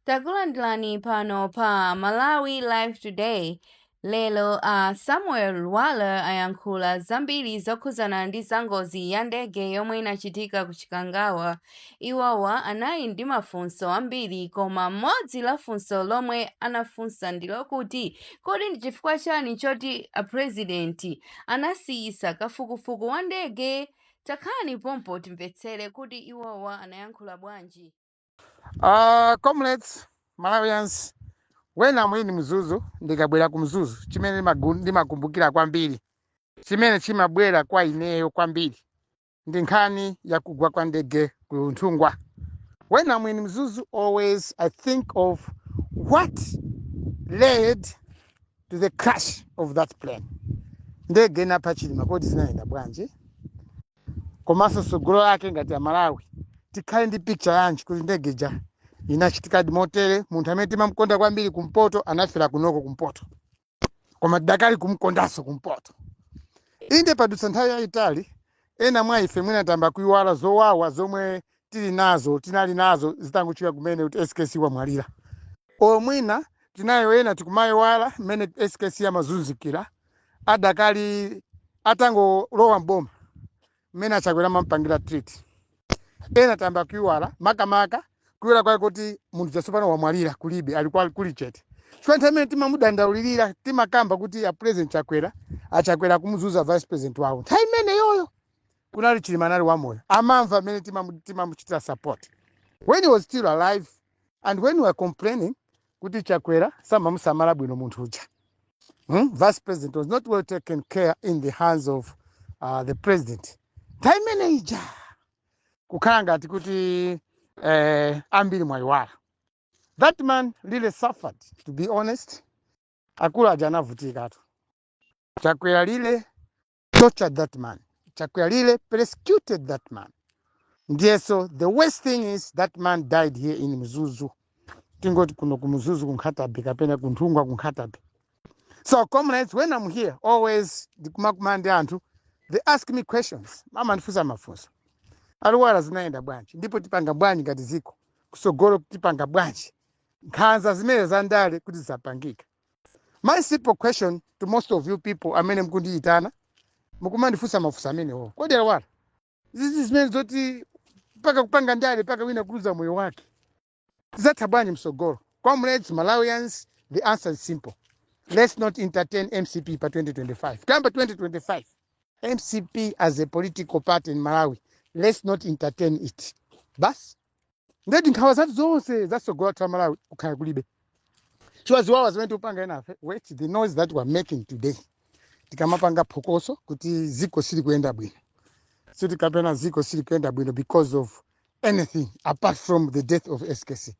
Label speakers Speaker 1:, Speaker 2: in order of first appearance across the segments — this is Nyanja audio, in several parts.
Speaker 1: Takulandirani pano pa Malawi Live Today. Lero a uh, Samuel Lwara ayankhula zambiri zokhudzana ndi zangozi ya ndege yomwe inachitika ku Chikangawa. Iwowa anali ndi mafunso ambiri koma mmodzi la funso lomwe anafunsa ndi lokuti kodi ndi chifukwa chani choti a president anasiyisa kafukufuku wa ndege? Takhalani pompo timvetsere kuti iwowa anayankhula bwanji. Uh,
Speaker 2: comrades Malawians when I'm in Mzuzu ndikabwera ku mzuzu chimene ndimagu- ndimakumbukira kwambiri chimene chimabwera kwa ineyo kwambiri ndi nkhani ya kugwa kwa ndege ku nthungwa when I'm in Mzuzu, always I think of what led to the crash of that plane. Ndege inapha Chilima kodi zinayenda bwanji? komanso tsogolo lake ngati aMalawi tikhale ndi picture yanji kuti ndege ija inachitikadi motere munthu amene timamkonda kwambiri kumpoto anafera kunoko kumpoto koma tidakali kumkondanso kumpoto inde padutsa nthawi yayitali ena mwa ife mwina tayamba kuyiwala zowawa zomwe tili nazo tinali nazo zitangochitika kumene kuti skc wamwalira or mwina tinayo ena tikumayiwala mmene skc amazunzikira adakali atangolowa mboma mmene a Chakwera amampangira treat ena tayamba kuyiwala makamaka kuyiwala kwake kuti munthu jasopano wamwalira kulibe ali kwa- kuli chete chifukwa nthawi imene timamudandaulirira timakamba kuti a president Chakwera a Chakwera akumuzunza vice president wawo nthawi imeneyoyo kunali chilima anali wamoyo amamva mmene timamu- timamuchitira support when he was still alive and when we were complaining kuti chakwera samamusamala bwino munthu uja hmm? vice president was not well taken care in the hands of uh, the president nthawi imene ija kukhala ngati kuti eh, ambiri mwayiwala that man really suffered to be honest akulu aja anavutikatu Chakwera really tortured that man Chakwera really persecuted that man ndiyeso the worst thing is that man died here in mzuzu tingoti kuno ku Mzuzu ku Nkhata Bay kapena ku Nthungwa ku Nkhata Bay so comrades when i'm here always ndikumakumana ndi anthu they ask me questions amandifunsa mafunso a Lwara zinayenda bwanji ndipo tipanga bwanji ngati ziko kusogolo tipanga bwanji nkhanza zimene zandale kuti zapangika My simple question to most of you people amene mkundiyitana mukumandifunsa mafunso amenewo kodi a Lwara izi zimenezi zoti mpaka kupanga ndale mpaka wina kuluza moyo wake tizatha bwanji msogolo comrades malawians the answer is simple let's not entertain mcp pa 2025 kuyamba 2025 mcp as a political party in malawi let's not entertain it basi ndekuti nkhawa zathu zonse zasogolo la malawi kukhala kulibe chiwawa ziwawa zimene tikupanga enafe wait the noise that we are making today tikamapanga phokoso kuti ziko sili kuyenda bwino sitikunena ziko sili kuyenda bwino because of anything apart from the death of skc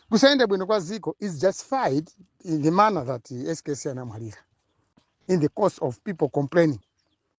Speaker 2: kusayenda bwino kwa ziko is justified in the manner that skc anamwalira in the course of people complaining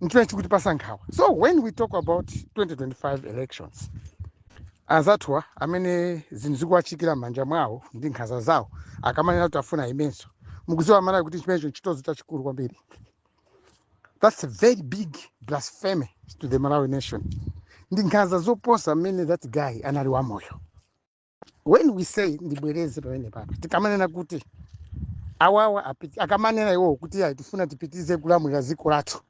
Speaker 2: nchimene chikutipasa nkhawa so when we talk about 2025 elections anzathuwa amene zinthu zikuwachitikira m'manja mwawo ndi nkhanza zawo akamanena kuti afuna aimenso mukudziwa amalawi kuti chimenecho nchitonzo chachikulu kwambiri that's a very big blasphemy to the malawi nation ndi nkhanza zoposa mmene that guy anali wamoyo when we say ndibwereze pamene papa tikamanena kuti awawa apiti- akamanena iwowo kuti ayi tifuna tipitirize kulamulira dziko lathu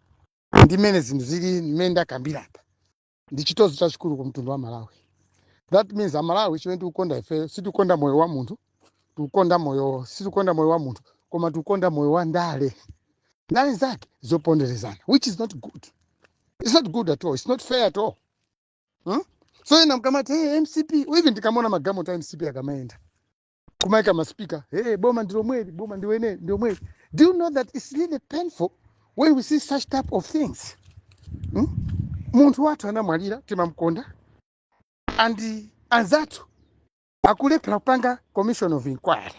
Speaker 2: ndi mmene zinthu zili mmene ndakambira apa ndi chitonzo chachikulu ku mtundu wa malawi that means amalawi chimene tikukonda ifeyo sitikukonda moyo wa munthu tikukonda moyo sitikukonda moyo wa munthu koma tikukonda moyo wa ndale ndale zake zoponderezana which is not good it's not good at all it's not fair at all hmm? so ena mkamati hey, mcp even ndikamona magalimoto a mcp akamayenda kumaika maspika hey, boma ndilomweli boma ndilomweli ndilomweli do you know that it's really painful when we see such type of things hmm? munthu wathu anamwalira timamkonda and anzathu akulephera kupanga commission of inquiry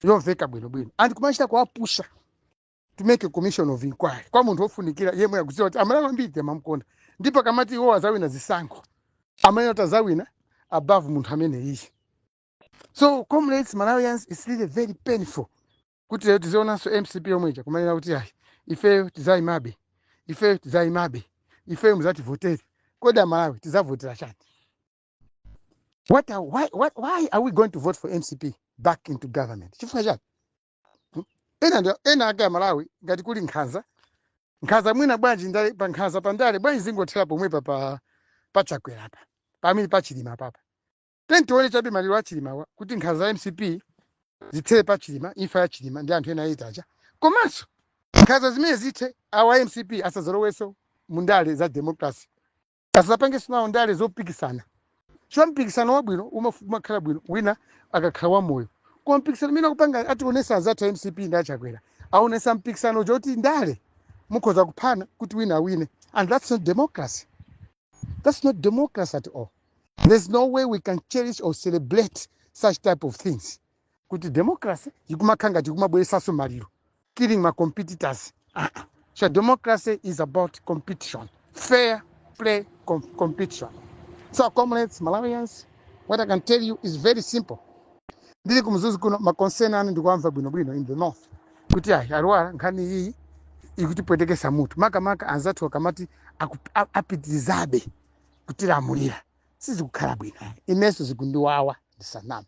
Speaker 2: yomveka bwinobwino and kumachita kuwapusha to make a commission of inquiry kwa munthu wofunikira yemwe akudziwa kuti amalawi ambiri amamukonda ndipo akamati iwo azawina zisankho amene kuti azawina above munthu amene iye so comrades malawians it's really very painful kuti lero tizionanso mcp yomwe ija kumanena kuti ayi ifeyo tizayimabe ifeyo tizayimabe ifeyo muzativotere kodi amalawi tizavotera chani what are, why, what, why are we going to vote for mcp back into government chifukwa chani Hmm? ena ndi- enanu amalawi ngati kuli nkhanza nkhanza mwina bwanji ndale pa nkhanza pa ndale bwanji zingothera pomwepa pa pa chakwera apa pamene pa chilima papa teni tione chabe maliro a chilimawa kuti nkhanza za mcp zithere pa chilima imfa ya chilima ndi anthu ena eyiti aja komanso nkhanza zimenezi zithe awa mcp asadzalowenso mu ndale za democracy asapangenso nawo ndale zopikisana chifukwa mpikisano wabwino umaf- umakhala bwino wina akakhala wamoyo koma mpikisano umene akupanga ationesa anzathu a mcp ndi achakwera aonesa mpikisano woti ndale mukhoza kuphana kuti wina awine and that's not democracy that's not democracy at all there's no way we can cherish or celebrate such type of things kuti democracy ikumakhala ngati ikumabweresanso maliro killing my competitors ah, ah. so democracy is about competition fair play com competition so comrades malawians what i can tell you is very simple ndili ku Mzuzu kuno ma concern anu ndikuwamva bwinobwino in the north kuti ayi alwala nkhani iyi ikutipwetekesa mutu makamaka anzathu akamati aku- a- apitirizabe kutilamulira sizikukhala bwino inenso zikundiwawa ndisaname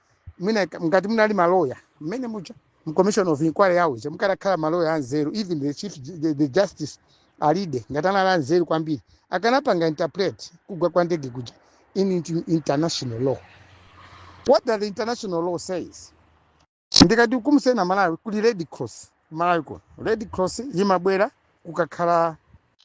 Speaker 2: mwina ka- ngati munali maloya mmene muja mu commission of inquiry yawo ija mukadakhala maloya anzeru even the chief ju- the, the justice alide ngati anali anzeru kwambiri akanapanga interpret kugwa kwa ndege kuja in inti- international law what does the international law says ndikatikumutseni aMalawi kuli red cross M'Malawi kuno, Red Cross yimabwera kukakhala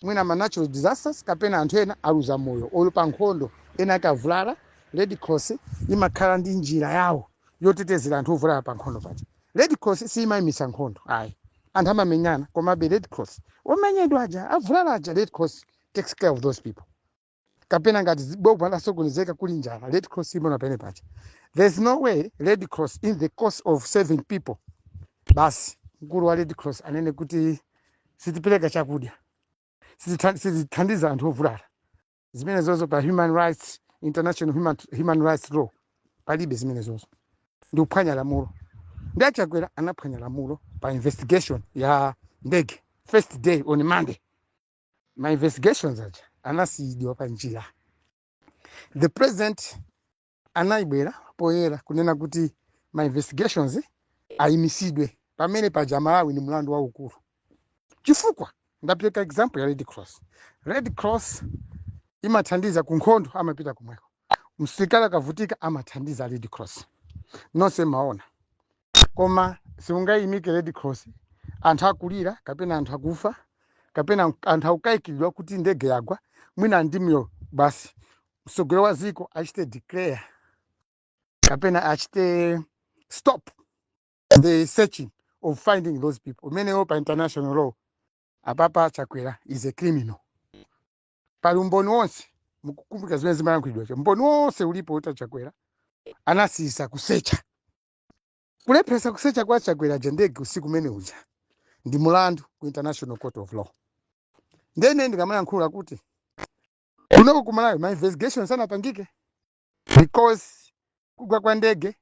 Speaker 2: mwina ma natural disasters kapena anthu ena aluza moyo or pa nkhondo ena akavulala, Red Cross yimakhala ndi njira yawo yotetezera anthu ovulala pa nkhondo paja. Red Cross siyimayimitsa nkhondo ayi. Anthu amamenyana komabe Red Cross, omenyedwa aja, avulala aja, Red Cross takes care of those people. kapena ngati zi- boma lasokonezeka kuli njala red cross imaona pamene paja there's no way red cross in the course of saving people basi mkulu wa red cross anene kuti sitipereka chakudya sititha- sitithandiza anthu ovulala zimenezozo pa human rights international human, human rights law palibe zimenezozo ndi kuphwanya lamulo ndi achakwera anaphwanya lamulo pa investigation ya ndege first day on monday ma investigations aja anasiyidwa pa njira the president anabwera poyera kunena kuti ma investigations ayimisidwe pamene paja malawi ni mlandu waukulu chifukwa ndapereka example ya red cross red cross imathandiza ku nkhondo amapita komweko msilikali akavutika amathandiza red cross nonse mumaona Koma siungaimike Red Cross anthu akulira kapena anthu akufa kapena anthu akukayikiridwa kuti ndege yagwa mwina ali moyo basi mtsogoleri wa dziko achite declare kapena achite stop the searching of finding those people umenewo pa international law apapa chakwera is a criminal pali umboni wonse mukukumbuka zimene zimayankhulidwa umboni wonse ulipo woti a Chakwera anasiyisa kusecha Kulepheresa kusecha kwa a Chakwera kuja ndege usiku umene uja ndi mulandu ku International Court of Law. Ndiye ine ndikamayankhula kuti kunoko ku Malawi ma investigation sanapangike because kugwa kwa ndege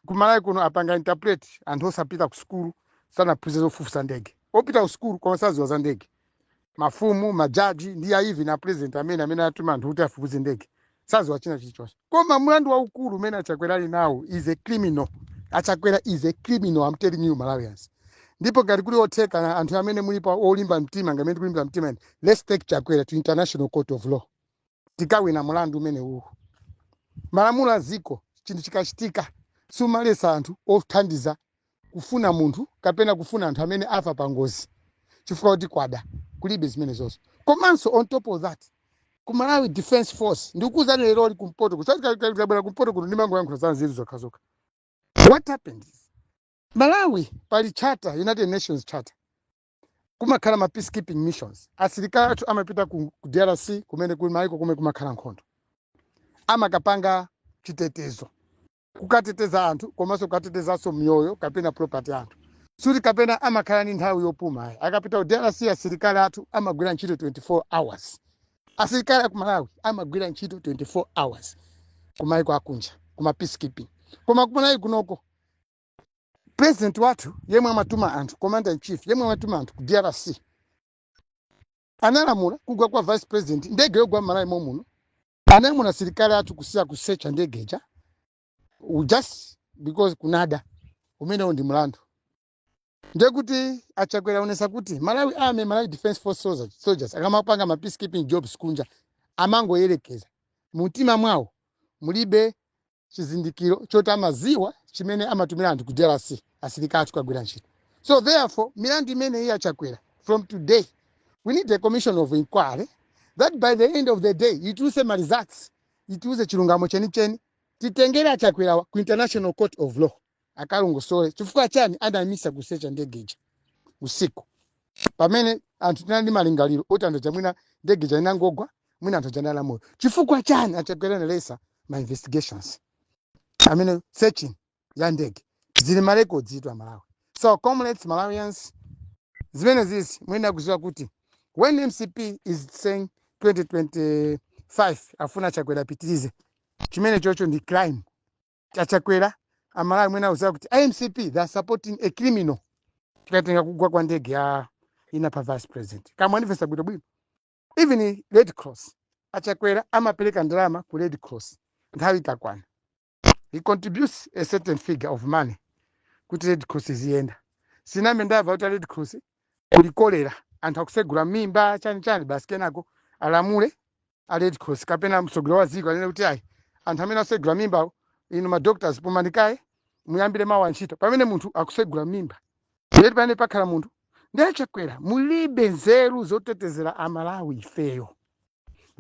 Speaker 2: ku Malawi kuno apanga interpret anthu osapita ku sukulu sanaphunzira zofufuza ndege. Opita ku sukulu koma sadziwa za ndege. mafumu majaji ndi even a president amene amene atuma anthu kuti afufuze ndege saziwa china chilichonse koma mlandu waukulu umene achakwera ali nawo is a criminal achakwera is a criminal I'm telling you malawians ndipo ngati kuli otheka na anthu amene mulipo olimba mtima ngati mmene tikulimba mtima eni, let's take chakwera to international court of law tikawina mulandu umenewuwu malamulo a dziko chinthu chikachitika sumaletsa anthu othandiza kufuna munthu kapena kufuna anthu amene afa pa ngozi chifukwa kuti kwada kulibe zimenezozo komanso on top of that ku malawi defense force ndikukuuzani leroli kumpoto kusabwera kumpoto kuno ndimangoyankhula za nzeru zokhazokha what happened malawi pali charter united nations charter kumakhala ma peacekeeping missions asilikali athu amapita ku ku drc kumene kuli maiko kumene kumakhala nkhondo amakapanga chitetezo kukateteza anthu komanso kukatetezanso miyoyo kapena property anthu sikuti kapena amakhala ndi nthawi yopuma ayi akapita ku drc asilikali athu amagwira ntchito 24 hours asilikali aku malawi amagwira ntchito 24 hours kumaiko akunja kuma peacekeeping koma kumalawi kunoko president wathu yemwe amatuma anthu commander in chief yemwe amatuma anthu ku drc analamula kugwa kwa vice president ndege yogwa mmalawi momuno analamula asilikali athu kusiya kusecha ndege ija u- just because kunada umenewo ndi mlandu ndiye kuti achakwera aonesa kuti malawi army malawi defense force soldiers akamapanga ma peacekeeping jobs kunja amangoyerekeza mumtima mwawo mulibe chizindikiro choti amaziwa chimene amatumira anthu ku drc asilikali athu kukagwira ntchito so therefore milandu imeneyi ya achakwera from today we need a commission of inquiry that by the end of the day ituluse ma results itiuze chilungamo chenicheni titengere achakwerawa ku international court of law akalongosole chifukwa chani anaimitsa kusecha ndege ija usiku pamene anthu tinali ndi malingaliro oti anthu aja mwina ndege ija inangogwa mwina anthu aja anali amoyo chifukwa chani achakwera analesa ma investigations amene searching ya ndege zili ma records izitu amalawi so comrades malawians zimenezizi mwina akuziwa kuti when mcp is saying 2025 afuna chakwera apitirize chimenechocho ndi crime achakwera amalawi mwina mukuziwa kuti amcp they are supporting a criminal tikatenga kugwa kwa ndege ya ine pa vice president ngati mukundimvetsa bwino bwino even red cross achakwera amapereka ndalama ku red cross nthawi ikakwana he contributes a certain figure of money kuti red cross iziyenda sinambe ndamva kuti red cross kuli kolera anthu akutsegula mmimba chani chani basi kenako alamule a red cross kapena mtsogoleri wa dziko anene kuti ayi anthu amene asegula mimba inu ma doctors pumani kaye muyambire mawa ntchito pamene munthu akusegula mimba ndeti pamene pakhala munthu ndi achakwera mulibe nzeru zotetezera amalawi ifeyo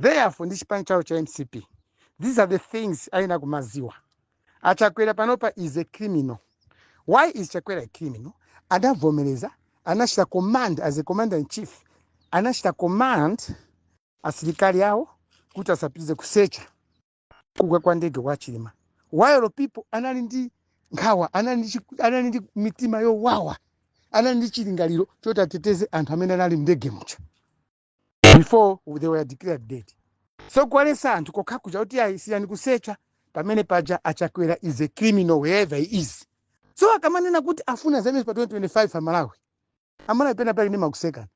Speaker 2: therefore ndi chipani chawo cha mcp these are the things ayenera kumaziwa achakwera panopa is a criminal why is chakwera a criminal adavomereza anachita command as a commander in chief anachita command asilikali awo kuti asapitirize kusecha kugwa kwa ndege wa Chilima while people anali ndi nkhawa anali ndi, chi- anali ndi mitima yowawa anali ndi chilingaliro choti ateteze anthu amene anali mndege muja before they were declared dead so kuwaletsa anthu kokha kuja kuti ayi siyani kusecha pamene paja achakwera is a criminal wherever he is so akamanena kuti afuna zaimenso pa 2025 amalawi amalawi pena pake ndimakusekani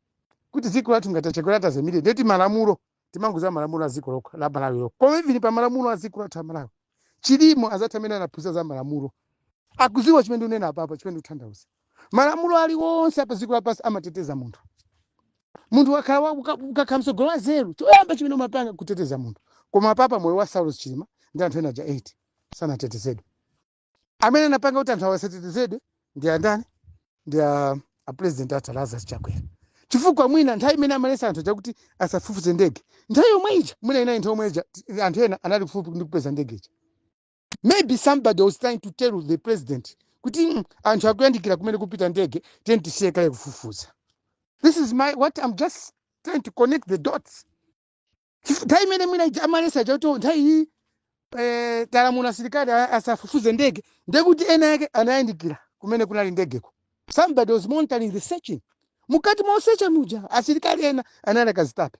Speaker 2: kuti dziko lathu ngati achakwera ataimire ndeti malamulo timangouza malamulo a dziko lokha la malawi lokha koma even pa malamulo a dziko lathu a malawi chilimo azathu amene anaphunzira za malamulo akuziwa chimene unena apapa chimene uthandauza malamulo aliwonse apa dziko lapansi amateteza munthu munthu wakhala wa- uka- ukakhala mtsogoleri wanzeru choyamba chimene umapanga kuteteza munthu koma apapa moyo wa saulos chilima ndi anthu ena aja 8 sanatetezedwe amene anapanga kuti anthu aja asatetezedwe ndi andani ndi a a president athu lazarus chakwera chifukwa mwina nthawi imene amalesa anthu chakuti asafufuze ndege nthawi yomwe ija mwina ina nthawi yomwe ija t- anthu ena anali kufupi ndi kupeza ndege ija maybe somebody was trying to tell the president kuti "Mm, anthu akuyandikira kumene kupita ndege tiyeni tisiye kaye kufufuza this is my what i'm just trying to connect the dots Chifu- nthawi imene mwina ija amalesa chakuti nthawi iyi eh, talamula asilikali a- asafufuze ndege ndekuti ena yake anayandikira kumene kunali ndegeko somebody was monitoring the searching mukati mosecha muja asilikali ena anali akazitape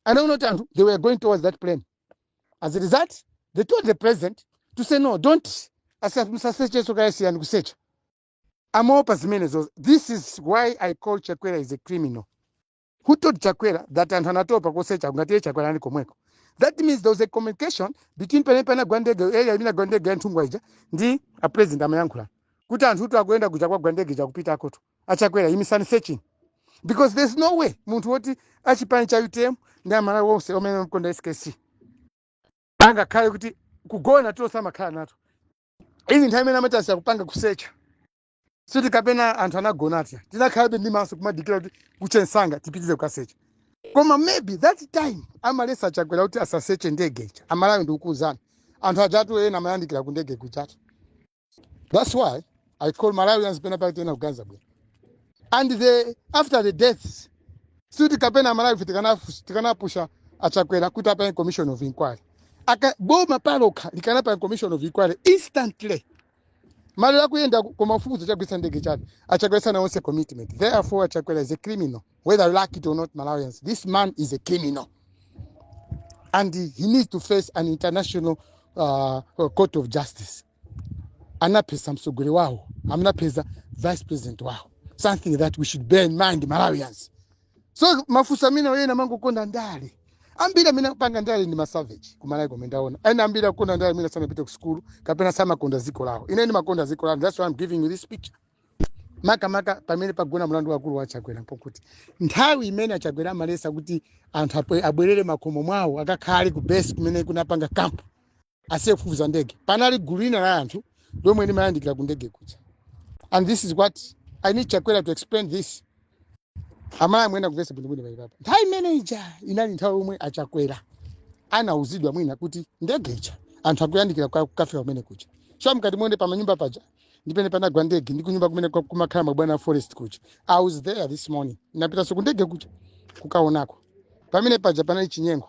Speaker 2: anaona kuti anthu they were going towards that plane as a result they told the president to say no don't asa- musasechenso kaye siyani kusecha amaopa zimenezo this is why i call chakwera is a criminal who told chakwera that anthu anatopa kusecha ngati iye chakwera ali komweko that means there was a communication between pamene panagwa ndege area imene agwa ndege ya nthungwa ija ndi a president amayankhulana kuti anthutu akuyenda kuja kwagwa ndege ija kupita akoto achakwera imisani searching because there's no way munthu woti achipani cha utm ndi amalawi onse omene amkonda skc angakhale kuti kugona tulo samakhala nato izi nthawi imene amayesera kupanga kusecha siti kapena anthu anagona ati tinakhalabe ndi maso kumadikira kuti kuche nsanga tipitize kukasecha koma maybe that time amalesa achakwera kuti asaseche ndege ija amalawi ndikukuuzani anthu ajatu ena amayandikira ku ndege kujatu that's why i call malawians pena pake sitikuganiza bwino and after the deaths siti kapena amalawife tikanafu- tikanapusha achakwera kuti apange commission of inquiry Ayi, boma palokha likanapanga commission of inquiry instantly maliro akuyenda koma kufufuza chagwetsa ndege chani achakwera sanaonese commitment therefore achakwera is a criminal whether you like it or not malawians this man is a criminal and he he needs to face an international uh, uh, court of justice anapesa msogoleri wawo anamupesa vice president wawo something that we should bear in mind malawians so mafunso amene ena amangokonda ndale ambiri amene akupanga ndale ndi masaveji kumalawi komwe ndaona ena ambiri akukonda ndale amene sanapite ku sukulu kapena samakonda dziko lawo ine ndimakonda dziko langa that's why I'm giving you this picture makamaka pamene pagona mlandu wakulu wa chakwera mpokuti nthawi imene achakwera amalesa kuti anthu abwe- abwerere makomo mwawo akakhale ku base kumene kunapanga kampu asiye kufufuza ndege panali gulu lina la anthu lomwe limayandikira ku ndege kuja and this is what i need chakwera to explain this amalawi muyenera kumvesa bwinobwino apapa nthawi imene ija inali nthawi yomwe achakwera anauzidwa mwina kuti ndege ija anthu akuyandikira kwa- kukafika kumene kuja so mkati mwandege pamanyumba paja ndi pamene panagwa ndege ndi kunyumba kumene kwa- kumakhala mabwana a forest kuja i was there this morning napitanso ku ndege kuja kukaonako pamene paja panali chinyengo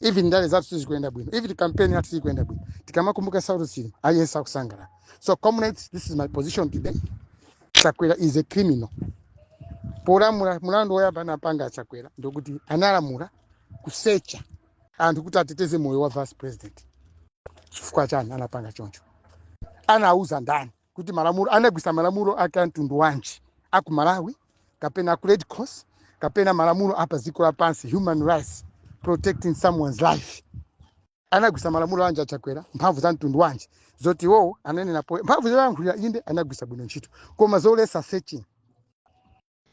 Speaker 2: even ndale zathu sizikuyenda bwino even campaign yathu siikuyenda bwino tikamakumbuka saulos chilima aliyense sakusangalala so comrades this is my position today chakwera is a criminal polamula mulandu woyamba anapanga achakwera ndokuti analamula kusecha anthu kuti ateteze moyo wa vice president chifukwa chani anapanga choncho anauza ndani kuti malamulo anagwisa malamulo ake a mtundu wanji aku malawi kapena aku red cross kapena malamulo apa dziko lapansi human rights protecting someone's life anagwisa malamulo anji achakwera mphamvu za mtundu wanji zoti iwowo anenepo mphamvu zayankhulira inde anagwisa bwino ntchito koma zolesa searching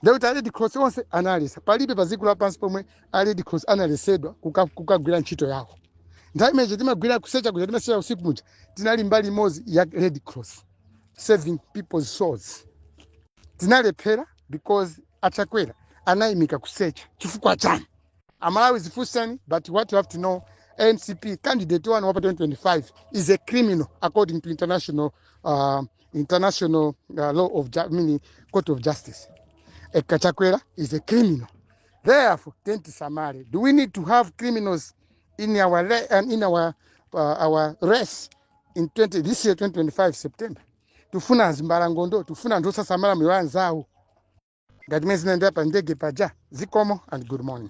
Speaker 2: Ndiye kuti a Red Cross onse analesa. Palibe pa dziko lapansi pomwe a Red Cross analesedwa kuka- kukagwira ntchito yawo. Nthawi imene timagwira kusecha kuja timasecha usiku muja tinali mbali imodzi ya Red Cross saving people's souls. Tinalephera because achakwera anayimika kusecha chifukwa chani? Amalawi zifunseni but what you have to know MCP candidate wanu wapa 2025 is a criminal according to international uh, international uh, law of ju- I mean, court of justice a Kachakwera is a criminal. Therefore, tenti samari. Do we need to have criminals in our re- and in our uh, our race in 20 this year 2025 September? Tufuna zimbalangondo, tufuna ndosa samara miwanzao. Gadmezi nenda pa ndege paja. Zikomo and good morning.